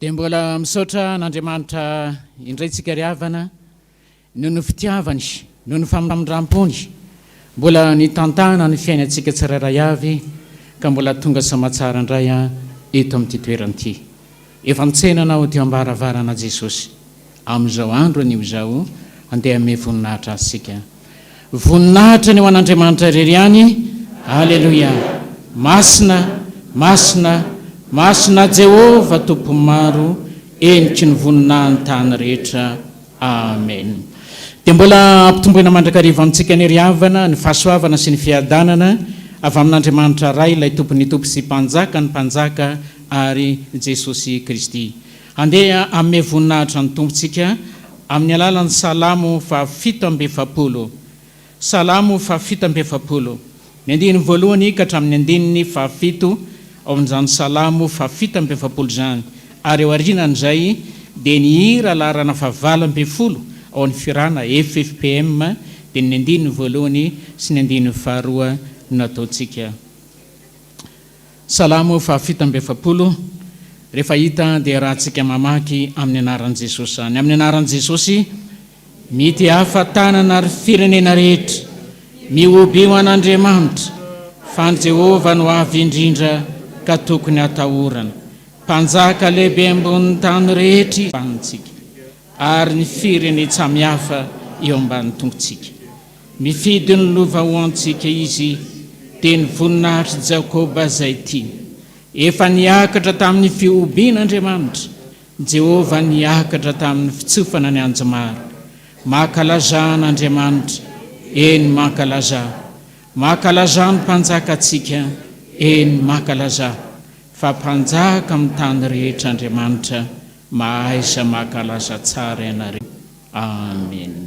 Dia mbola misaotra an'Andriamanitra indray tsika ry havana noho ny fitiavany, noho ny famindram-pony mbola nitantana ny fiainantsika tsirairay avy ka mbola tonga soamatsara indray eto amin'ity toerana ity. Efa mitsena anao teo am-baravarana Jesosy. Amin'izao andro anio izao, andeha hanome voninahitra Azy isika. Voninahitra ny ho an'Andriamanitra irery ihany. Aleloia! Masina, masina, masina Jehovah Tompon'ny maro, heniky ny voninahin'ny tany rehetra. Amen. Dia mbola ampitomboina mandrakariva amintsika ny ry havana, ny fahasoavana sy ny fiadanana avy amin'Andriamanitra Ray, ilay Tompon'ny tompo sy Mpanjakan'ny mpanjaka ary Jesosy Kristy. Handeha hanome voninahitra ny Tompo tsika amin'ny alalan'ny Salamo fahafito amby efapolo. Salamo fahafito amby efapolo. Ny andininy voalohany ka hatramin'ny andininy fahafito ao amin'izany Salamo fahafito amby efapolo izany, ary ao aorianan'izay dia ny hira laharana fahavalo ambin'ny folo ao amin'ny Firana, FFPM, dia ny andininy voalohany sy ny andininy faharoa no nataontsika. Salamo fahafito amby efapolo, Rehefa hita dia rahantsika mamaky amin'ny anaran'i Jesosy any. Amin'ny anaran'i Jesosy, mity hafa tanana ry firenena rehetra, mihobio an'Andriamanitra, fa an'i Jehovah no avy indrindra ka tokony hatahorana. Mpanjaka lehibe ambonin'ny tany rehetra izy, ambanintsika, ary ny firenen-tsamihafa eo ambanin'ny tongotsika. Mifidy ny lova ho antsika Izy, dia ny voninahitr'i Jakoba izay tiany. Efa niakatra tamin'ny fihobiana Andriamanitra, Jehovah niakatra tamin'ny fitsofana ny anjomara. Mankalazà an'Andriamanitra, eny, mankalazà. Mankalazà ny Mpanjakantsika, eny, mankalazà, fa Mpanjaka amin'ny tany rehetra Andriamanitra, mahaiza mankalaza tsara ianareo. Amena.